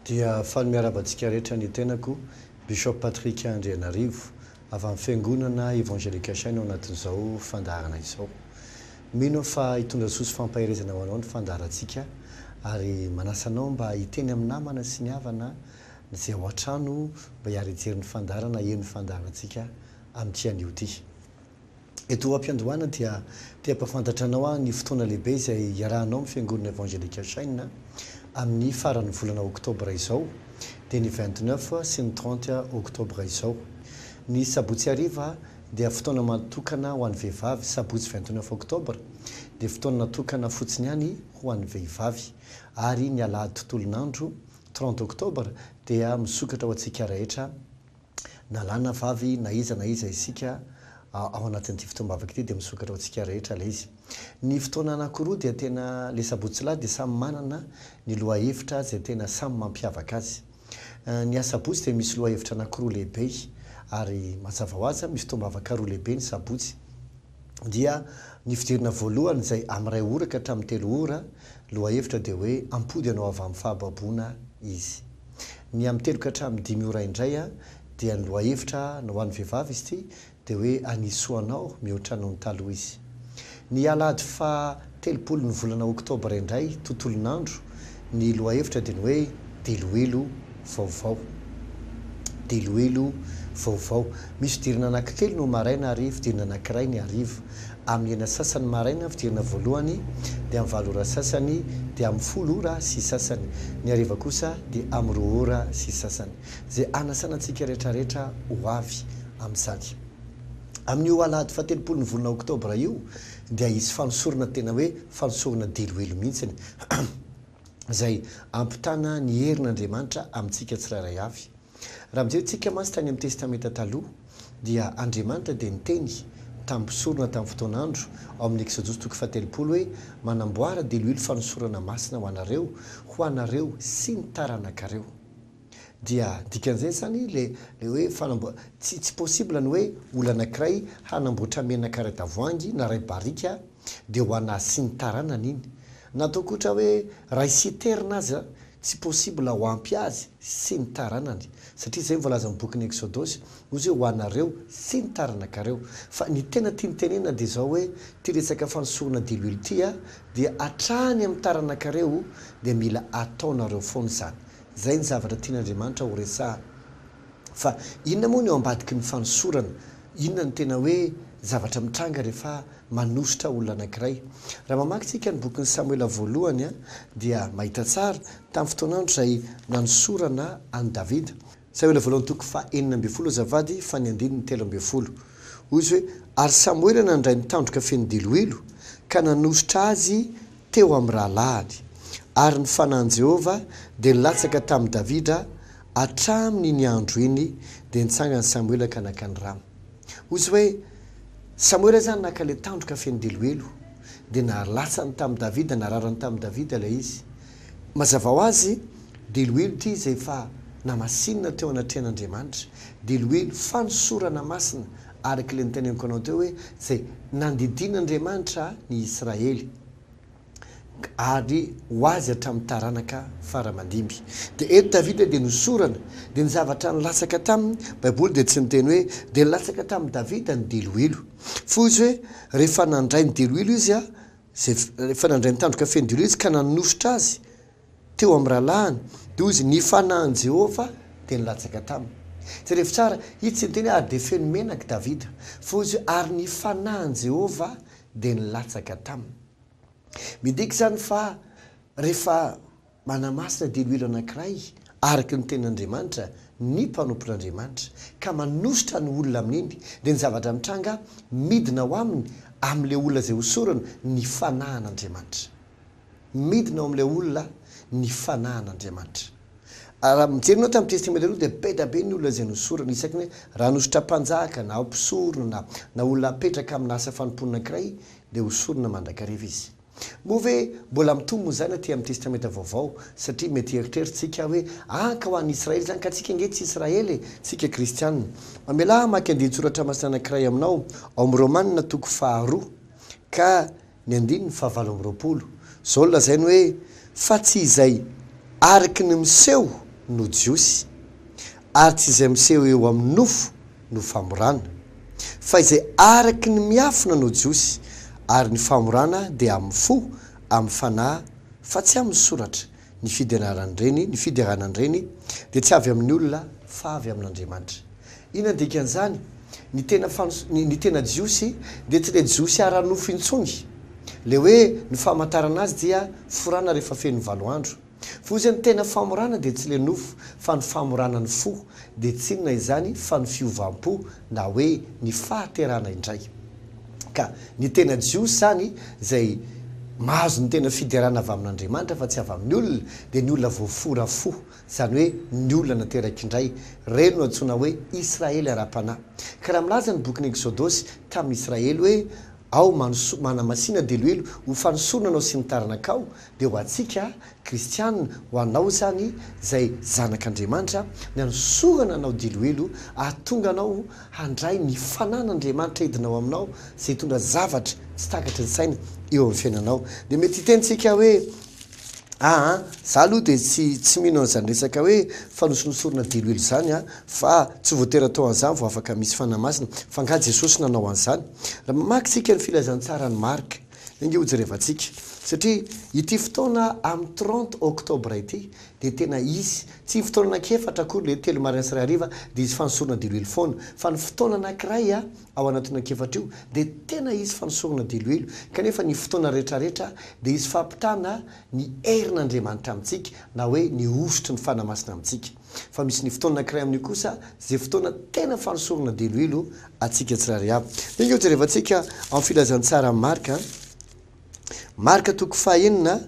Dia faly miarahaba antsika rehetra ny tenako, Bishop Patrick Andrianarivo, avy amin'ny Fiangonana Evangelique Shine ao anatin'izao fandaharana izao. Mino aho fa hitondra soa sy fampaherezana ho anao ny fandaharantsika ary manasa anao mba hiteny amin'ny namana sy ny havana Mijea ao an-trano mba hiara hijery ny fandaharana eny fandaharantsika amin'ity anio ity. Eto am-piandohana dia te hampahafantatra anao aho ny fotoana lehibe izay hiarahanao amin'ny Fiangonana Evangelical Shine amin'ny faran'ny volana Oktobra izao dia ny vingt neuf sy ny trente Oktobra izao. Ny sabotsy hariva dia fotoana matokana ho an'ny vehivavy, sabotsy vingt neuf Oktobra dia fotoana natokana fotsiny ihany ho an'ny vehivavy ary ny alahady tontolon'andro Trente octobre dia misokatra ho antsika rehetra na lahy na vavy na iza na iza isika ao anatin'ity fotoam-bavaka ity dia misokatra ho antsika rehetra ilay izy. Ny fotoana anankiroa dia tena ilay sabotsy lahy dia samy manana ny lohahevitra izay tena samy mampiavaka azy. Ny asabotsy dia misy lohahevitra anankiroa lehibe ary mazava ho azy misy fotoam-bavaka roa lehibe ny sabotsy. dia ny fidirana voalohany izay amin'ny iray ora ka hatramin'ny telo ora, lohahevitra dia hoe ampody hanao avy amin'ny fahababoana izy. Ny amin'ny telo ka hatramin'ny dimy ora indray dia ny lohahevitra na ho an'ny vehivavy izy ity dia hoe hanisoa anao mihoatra noho ny taloha izy. Ny alahady faha Telopolo ny volana oktobra indray tontolon'andro ny lohahevitra dia ny hoe diloilo vaovao. Diloilo vaovao. Misy fidirana anankitelo no maraina ary fidirana anankiray ny hariva. Amin'ny enina sy sasany maraina ny fidirana voalohany dia amin'ny valo ora sy sasany dia amin'ny folo ora sy sasany. Ny hariva kosa dia amin'ny roa ora sy sasany. Izay hanasana antsika rehetrarehetra ho avy amin'izany. Amin'io alahady fahatelopolo ny volana oktobra io dia hisy fanosorana tena hoe fanosorana deloelo mihitsiny izay hampitana ny herin' Andriamanitra amintsika tsirairay avy. Raha mijery tsika mantsy tany amin'ny Testamenta Taloha dia Andriamanitra dia niteny tamin'ny mpisorona tamin'ny fotoan' andro ao amin'ny Eksodosy toko fahatelopolo hoe manamboara deloelo fanosorana masina ho anareo, ho anareo sy ny taranakareo. Dia dikan'izay zany le le hoe fanamboa tsy tsy possible ny hoe olona anankiray hanamboatra menaka iray tavoahangy na iray barika de ho an'azy sy ny taranany iny. Na ataoko ohatra hoe iray citerne aza tsy possible ho ampy azy sy ny taranany satria zay ny voalazan'ny bokin'ny Eksodosy hoy izy hoe ho anareo sy ny taranakareo. Fa ny tena tiany tenenina dia zao hoe ty resaka fanosorana diloilo ty a dia hatrany amin'ny taranakareo dia mila ataonareo foana izany. Izay ny zavatra tian'Andriamanitra horesahana. Fa inona moa no eo ambadiky ny fanosorana? Inona no tena hoe zavatra mitranga rehefa manosotra olona anankiray? Raha mamaky isika ny bokin'i Samoela Voalohany dia mahita tsara tamin'ny fotoan'andro izay nanosorana an'i Davida. Samoela Voalohany toko faha enina ambin'ny folo azafady fa ny andininy telo ambin'ny folo. Hoy izy hoe, Ary Samoela nandray ny tandroka feno diloilo ka nanosotra azy teo amin'ny rahalahiny, ary ny fanahin'i Jehovah dia nilatsaka tamin'i Davida hatramin' iny andro iny, dia nitsangan'i Samoela ka naka ny rano. Hoy izy hoe, Samoela izany naka ilay tandroka feno deloelo, dia nalatsany tamin'i Davida, nararany tamin'i Davida ilay izy. Mazava ho azy, deloelo ity izay efa namasinina teo anatrehan'Andriamanitra, deloelo fanosorana masina Ary kle noteneniko anao teo hoe tsy nandidian'Andriamanitra ny Israely ary ho azy hatramin'ny taranaka fara mandimby. Dia eto Davida dia nosorana, dia ny zavatra nilatsaka taminy, Baiboly dia tsy niteny hoe dia nilatsaka tamin'i Davida ny diloilo. Foa izy hoe rehefa nandray ny diloilo izy a, izay rehefa nandray ny tandroka feno diloilo izy ka nanosotra azy teo amin'ny rahalahiny, dia hoy izy, Ny fanahin'i Jehovah dia nilatsaka taminy. Jerevo tsara, ito tsy niteny hoe ary dia feno menaka Davida, fa hoy izy hoe, ary ny fanahin'i Jehovah dia nilatsaka taminy. Midika izany fa rehefa manamasina diloilo anankiray, araka ny Tenin'Andriamanitra, ny mpanompon'Andriamanitra, ka manosotra ny olona amin'iny, dia ny zavatra mitranga midina ao aminy, amin'ilay olona izay hosorana, ny fanahin'Andriamanitra. Midina ao amin'ilay olona ny Fanahy an'Andriamanitra. Raha mijery ianao tamin'ny Testamenta Aloha dia beda be ny olona izay nosorana, isaky ny hoe raha nosotra mpanjaka na mpisorona na olona apetraka amina asa fanompoana ankiray dia hosorana mandrakariva izy. Moa ve mbola mitombo izany aty amin'ny Testamenta Vaovao satria mety hieritreritsika aho hoe ah ka ho an'ny Israely izany ka tsika ange tsy Israely e! tsika kristiana. Mamelà hamaky andinin-tsoratra masina anankiray aminao ao amin'ny Romana toko faharoa ka Ny andininy fahavalo amby roapolo. Izao no lazainy hoe, Fa tsy izay ariky ny miseho no jiosy, ary tsy izay miseho eo amin'ny nofo no famorana, fa izay ariky ny miafina no jiosy, ary ny famorana dia amin'ny fo, amin'ny fanahy, fa tsy amin'ny soratra. Ny fidenaran'ireny, ny fideranan'ireny, dia tsy avy amin'ny olona fa avy amin'Andriamanitra. Inona ny dikan'izany? Ny tena fanos-, ny, ny tena Jiosy dia tsy ilay Jiosy ara-nofo intsony. Ilay hoe ny famantarana azy dia forana rehefa feno ny valo andro. Fa hoy izy hoe ny tena famorana dia tsy ilay nofo fa ny famorana ny fo. Dia tsy inona izany fa ny fiovam-po na hoe ny fahaterahana indray. Ka ny tena Jiosy izany, izay mahazo ny tena fiderana avy amin'Andriamanitra fa tsy avy amin'ny olona, dia ny olona voafora fo, izany hoe ny olona nateraka indray. Ireny no antsoina hoe Israely ara-panahy. Ka raha milaza ny bokin'ny Eksodosy tamin'ny Israely hoe, Ao, manoso, manamasina, dia elohelo, ho fanosorana anao sy ny taranakao, Dia ho antsika kristiana, ho anao izany izay zanak' Andriamanitra, ny hanosorana anao diloilo hahatonga anao handray ny fanan' Andriamanitra hidina ao aminao izay hitondra zavatra tsy takatry ny saina eo amin'ny fiainanao. Dia mety hiteny tsika hoe, aa za aloha dia tsy tsy mino an'izany resaka hoe fanosinosorana diloilo izany an, fa tsy voatery atao an'izany vao afaka misy fanahy masina, fa angaha Jesosy nanao an'izany? Raha mamaky tsika ny filazantsara an'i Marka. Enga ho jerevantsika, satria ity fotoana amin'ny trente octobre ity dia tena hisy, tsy ny fotoana anankiefatra akory ilay hoe telo maraina sy iray hariva dia hisy fanosorana diloilo foana, fa ny fotoana anankiray ao anatin'io anankiefatra io dia tena hisy fanosorana diloilo, kanefa ny fotoana rehetrarehetra dia hisy fampitana ny herin'Andriamanitra amintsika na hoe ny hosotry ny Fanahy Masina amintsika. Fa misy ny fotoana anankiray amin'io kosa izay fotoana tena fanosorana deloilo antsika tsirairay avy. Dia angeo jerevantsika amin'ny filazantsaran'i Marka, Marka toko fahenina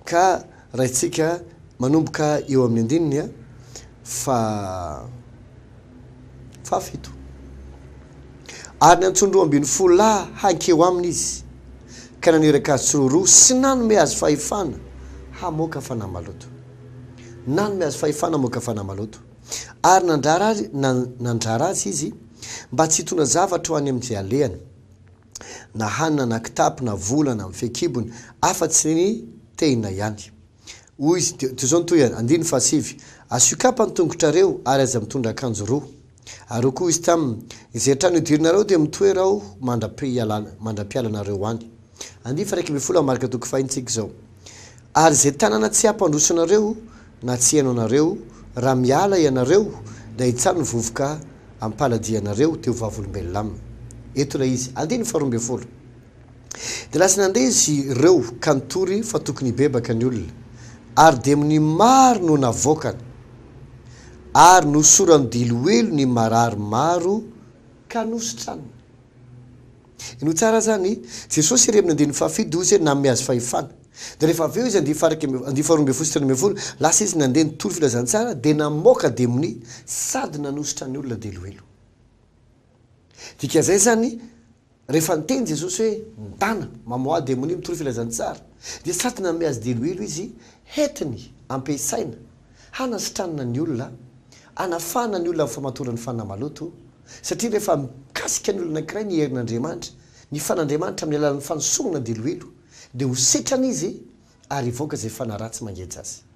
ka raintsika manomboka eo amin'ny andininy fa fahafito. Ary niantsoany roa ambin'ny folo lahy hankeo aminy izy, ka naniraka azy tsiroaroa sy nanome azy fahefana hamoaka fanahy maloto. Nanome azy fahefana hamoaka fanahy maloto. Ary nandrara azy, na, nandrara azy Izy mba tsy hitondra zavatra ho any amin'izay alehany, na hanina na kitapo na vola na fehin-kibony, afa-tsy ny tehina ihany. Hoy Izy, Toy izao ny tohiny, andininy fahasivy, Asio kapa ny tongotrareo, ary aza mitondra akanjo roa. Ary hoy koa izy taminy, Izay trano idiranareo dia mitoera aho mandra-pialana, mandra-pialanareo any. Andif iraika ambin'ny folo Marka toko faha enitsika izao. Ary izay tanàna tsy hampandroso anareo na tsy hihaino anareo, raha miala ianareo, dia hitsano ny vovoka am-paladianareo, dia ho vavolombelona aminy. Eto ilay izy. Andininy faharoa ambin'ny folo. Dia lasa nandeha izy ireo ka nitory fa tokony hibebaka ny olona, ary demonia maro no navoakany, ary nosorany diloilo ny marary maro ka nositraniny. Henoy tsara izany, Jesosy irery amin'ny andininy fahafito dia hoy izy hoe nanome azy fahefana. Dia rehefa avy eo izy andininy faha iraika, andininy faharoa ambin'ny folo sy telo ambin'ny folo, lasa izy nandeha nitory filazantsara dia namoaka demonia sady nanositra ny olona diloilo. Dikan'izay izany, Rehefa niteny Jesosy hoe, Mitana, mamoaha demonia, mitory filazantsara, dia sady nanome azy diloilo izy hentiny ampiasaina hanasitranana ny olona, hanafahana ny olona amin'ny famatoran'ny fanahy maloto, satria rehefa mikasika ny olona anankiray ny herin'Andriamanitra, ny fan'Andriamanitra amin'ny alalan'ny fanosogna diloilo, dia ho setrana izy ary hivoaka izay fanaratsy mangeja azy.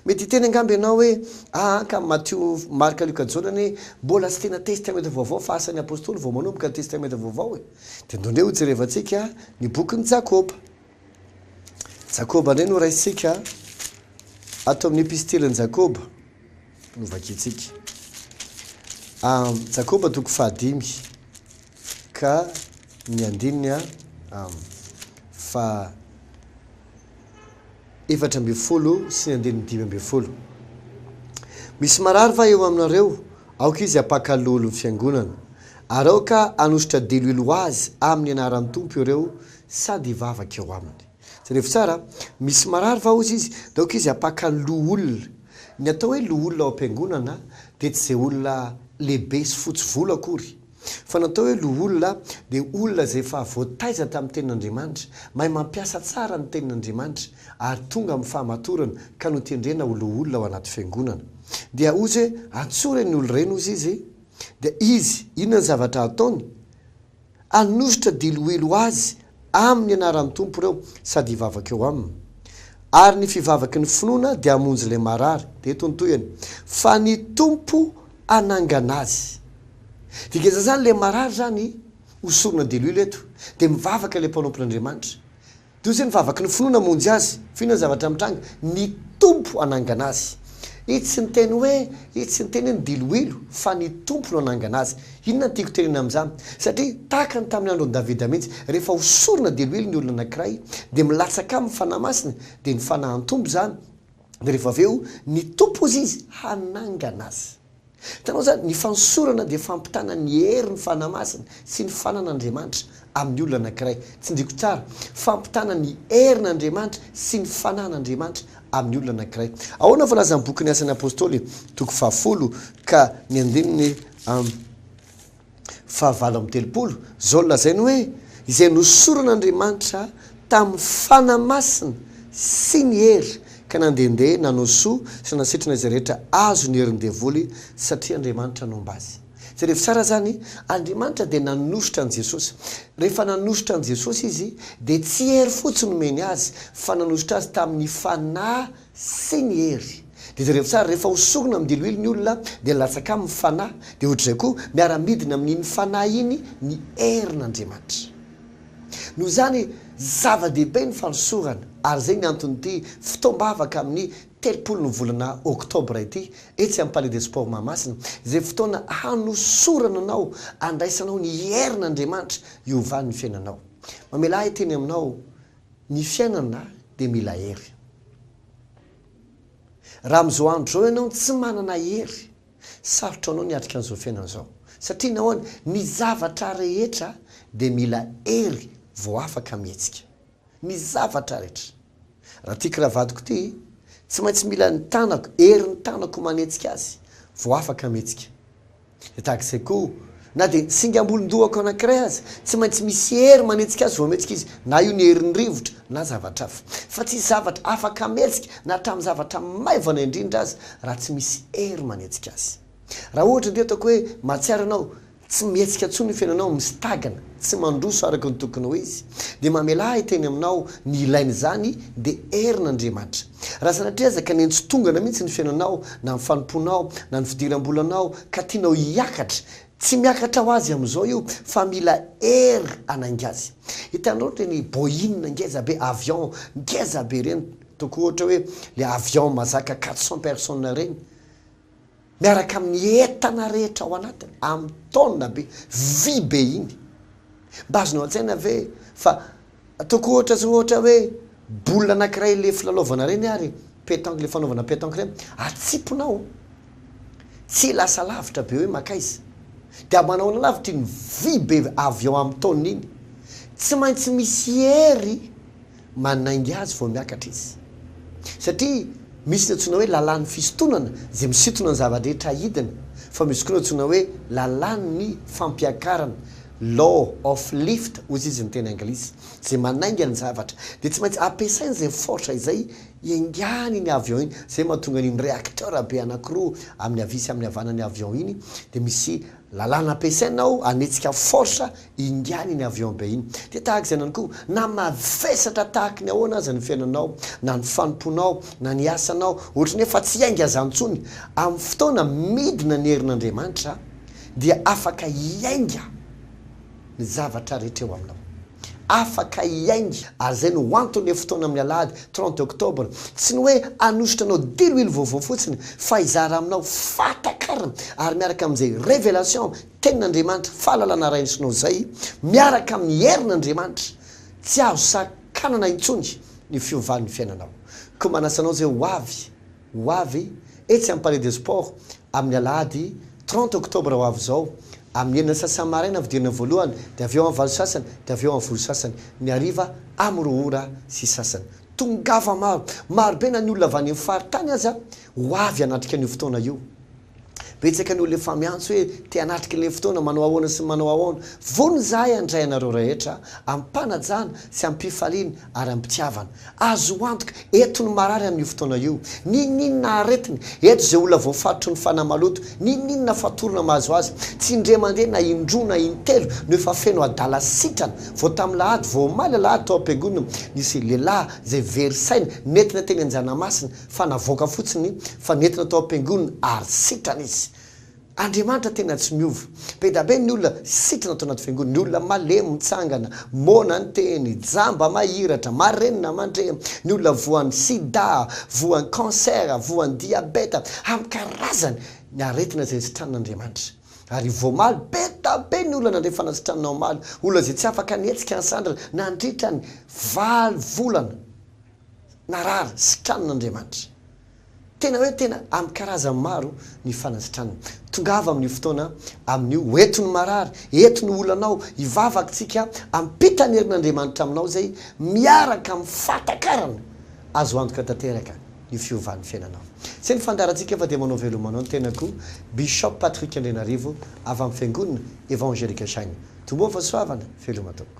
Mety hiteny angamba ianao hoe, Aa ka, Matio, Marka, Lioka, Jaona anie mbola tsy tena Testamenta Vaovao fa asan'ny Apostoly vao manomboka ny Testamenta Vaovao e! Dia andeha hojerevantsika ny bokin'i Jakoba. Jakoba indray no raisintsika ato amin'ny Epistilin'i Jakoba no vakintsika. Jakoba toko fahadimy. Ka ny andininy am. Fa efatra ambin'ny folo sy ny andininy dimy ambin'ny folo. Misy marary va eo aminareo? Aoka izy hapaka lolo ny fiangonana. Ary aoka hanositra diloilo ho azy amin'ny anaran'ny Tompo ireo sady hivavaka eo aminy. Jerevo tsara, Misy marary va hozy izy, dia aoka izy hapaka loholona. Ny atao hoe loholona ao am-piangonana dia tsy izay olona lehibe sy fotsy volo akory. Fa ny atao hoe loholona dia olona izay efa voataiza tamin'ny Tenin'Andriamanitra, mahay mampiasa tsara ny Tenin'Andriamanitra ary tonga amin'ny fahamatorana ka notendrena ho loholona ao anaty fiangonana. Dia hozy hoe atsory eny olo ireny hozy izy, dia izy inona ny zavatra hataony? Hanositra diloilo azy amin'ny anaran'ny Tompo ireo sady hivavaka eo aminy. Ary ny fivavaky ny finoana dia hamonjy ilay marary. Dia eto ny tohiny, Fa ny Tompo hanangana azy. Dikany zany le marary zany ho sorona de l'huile eto de mivavaka le mpanompo n'Andriamanitra de ozy ny vavaky ny finoana hamonjy azy fa inona ny zavatra mitranga ny Tompo hanangana azy i tsy niteny hoe i tsy niteny hoe ny diloilo fa ny Tompo no hanangana azy inona ny tiako tenena amin'izany satria tahaka ny tamin'ny andron'i Davida mihitsy rehefa ho sorona diloilo ny olona anankiray de milatsaka aminy fanahy masina de ny fanahin'Tompo zany Dia rehefa avy eo, ny Tompo hozy izy hanangana azy. Hitanao izany? Ny fanosorana dia fampitana ny hery ny Fanahy Masina sy ny fananan'Andriamanitra amin'ny olona anankiray. Tsindriako tsara, fampitana ny herin'Andriamanitra sy ny fananan'Andriamanitra amin'ny olona anankiray. Ahoana no voalazan'ny bokin'ny Asan'ny Apostoly, toko fahafolo ka ny andininy fahavalo amby telopolo, izao no lazainy hoe, Izay nosoran'Andriamanitra tamin'ny Fanahy Masina sy ny hery, ka nandehandeha nanao soa sy nanasitrana izay rehetra azon'ny herin'ny devoly, satria Andriamanitra nomba azy. Jerevo tsara izany, Andriamanitra dia nanositra an'i Jesosy. Rehefa nanositra an'i Jesosy Izy, dia tsy hery fotsiny nomeny Azy, fa nanositra Azy tamin'ny Fanahy sy ny hery. Dia jereo tsara, rehefa ho sorona amin'ny diloilo ny olona dia nilatsaka aminy ny fanahy, dia ohatr'izay koa miara-midina amin'iny fanahy iny ny herin'Andriamanitra. Noho izany, zava-dehibe ny fanosorana, ary izay ny anton'ity fotoam-bavaka amin'ny telopolon'ny volana oktobra ity, etsy amin'ny Palais des Sports Mahamasina, izay fotoana hanosorana anao, handraisanao ny herin'Andriamanitra hiovàn'ny fiainanao. Mamela ahy hiteny aminao. Ny fiainana dia mila hery. Raha amin'izao andro izao ianao tsy manana hery, sarotra ho anao ny hiatrika an'izao fiainana izao. Satria nahoana? Ny zavatra rehetra dia mila hery vao afaka mihetsika. Ny zavatra rehetra. Raha ity kravadiko ity, tsy maintsy mila ny tanako, herin'ny tanako manetsika azy vao afaka mihetsika. Dia tahaka izay koa, na dia ny singam-bolon-dohako anankiray aza, tsy maintsy misy hery manetsika azy vao mihetsika izy, na io ny herin'ny rivotra na zavatra hafa. Fa tsy hisy zavatra afaka hametsika na hatramin'ny zavatra maivana indrindra aza raha tsy misy hery manetsika azy. Raha ohatra indray ataoko hoe mahatsiaro ianao tsy mihetsika intsony ny fiainanao, misitagana, tsy mandroso araka ny tokony ho izy, dia mamelà ahy hiteny aminao ny ilain'izany, dia herin'Andriamanitra. Raha sanatria aza ka niantsontongana mihitsy ny fiainanao, na ny fanompoanao, na ny fidiram-bolanao, ka tianao hiakatra, tsy miakatra ho azy amin'izao io, fa mila hery hanainga azy. Hitanareo ireny Boeing ngeza be, avion ngeza be ireny, ataoko ohatra hoe ilay avion mahazaka quatre cents personnes ireny, miaraka amin'ny entana rehetra ao anatiny, amin'ny taonina be, vy be iny. Mba azonao an-tsaina ve fa ataoko ohatra zao ohatra hoe boule anankiray ilay filalaovana ireny ary petanque ilay fanaovana petanque ireny, atsipinao, tsy lasa lavitra be hoe mankaiza. Dia manao ny lavitra iny vy be avy ao amin'ny taonina iny. Tsy maintsy misy hery Manainga azy vao miakatra izy. Satria misy ny antsoina hoe lalàn'ny fisintonana izay misintona ny zava-drehetra hidina, fa misy koa ny antsoina hoe lalàn'ny fampiakarana, law of lift hozy izy ny teny anglisy, izay manainga ny zavatra. Dia tsy maintsy ampiasaina izay force izay hiaingany iny avion iny, izay mahatonga an'iny reacteur be anankiroa amin'ny havia sy amin'ny havanan'ny avion iny dia misy Lalàna ampiasaina ao hanetsika force ingany iny avion be iny. Dia tahaka izany ihany koa, na mavesatra tahaka ny ahoana aza ny fiainanao, na ny fanompoanao, na ny asanao, ohatry ny hoe fa tsy hiainga izany intsony, amin'ny fotoana midina ny herin'Andriamanitra dia afaka hiainga. ny zavatra rehetra eo aminao. Afaka hihaino ary izay no anton'ilay fotoana amin'ny alahady trente octobre. Tsy ny hoe hanosotra anao diloilo vaovao fotsiny fa hizara aminao fahatakarana ary miaraka amin'izay révélation tenin'Andriamanitra fahalalana araisinao izay miaraka amin'ny herin'Andriamanitra tsy azo sakanana intsony ny fiovan'ny fiainanao. Koa manasa anao izay ho avy. Ho avy etsy amin'ny Palais des Sports amin'ny alahady trente octobre ho avy izao amin'ny enina sy sasany maraina ny fidirana voalohany dia avy eo amin'ny valo sy sasany dia avy eo amin'ny folo sy sasany ny hariva amin'ny roa ora sy sasany. Tongava maro, marobe na ny olona avy any amin'ny faritany aza ho avy hanatrika an'io fotoana io. Betsaka ny olona efa miantso hoe te hanatrika ilay fotoana, manao ahoana sy ny manao ahoana. Vonona izahay handray anareo rehetra amim-panajana sy amim-pifaliana ary amim-pitiavana. Azo antoka, eto ny marary amin'io fotoana io, n'inon'inona aretina, eto izay olona voafaritry ny fanahy maloto, n'inon'inona fatorana mahazo azy, tsy indray mandeha na indroa na intelo no efa feno adala sitrana. Vao tamin'ny lahady, vao omaly alahady tao am-piangonana, nisy lehilahy izay very saina nentina teny Anjanamasina, fa navoaka fotsiny fa nentina tao am-piangonana ary sitrana izy. Andriamanitra tena tsy miova. Be da be ny olona sitrana tao anaty fiangonana, ny olona malemy mitsangana, moana ny teny, jamba mahiratra, marenina mandre, ny olona voan'ny sida, voan'ny cancer, voan'ny diabeta, amin'ny karazany ny aretina izay sitranin'Andriamanitra. Ary voamaly, be da be ny olona nandre fanasitranana omaly, olona izay tsy afaka nihetsika ny sandrany nandritra ny valo volana. narary sitranina Andriamanitra. Tena hoe tena amin'ny karazany maro ny fanasitranana. Tongava amin'io fotoana amin'io ho eto ny marary, eto ny olanao, hivavakintsika hampita ny herin'Andriamanitra aminao izay miaraka amin'ny fahatakarana azo antoka tanteraka ny fiovan'ny fiainanao. Izay ny fandaharantsika fa dia manao veloma anao ny tenako, Bishop Patrick Andrianarivo avy amin'ny Fiangonana Evangelical Shine. Tomboa fahasoavana, veloma tompoko.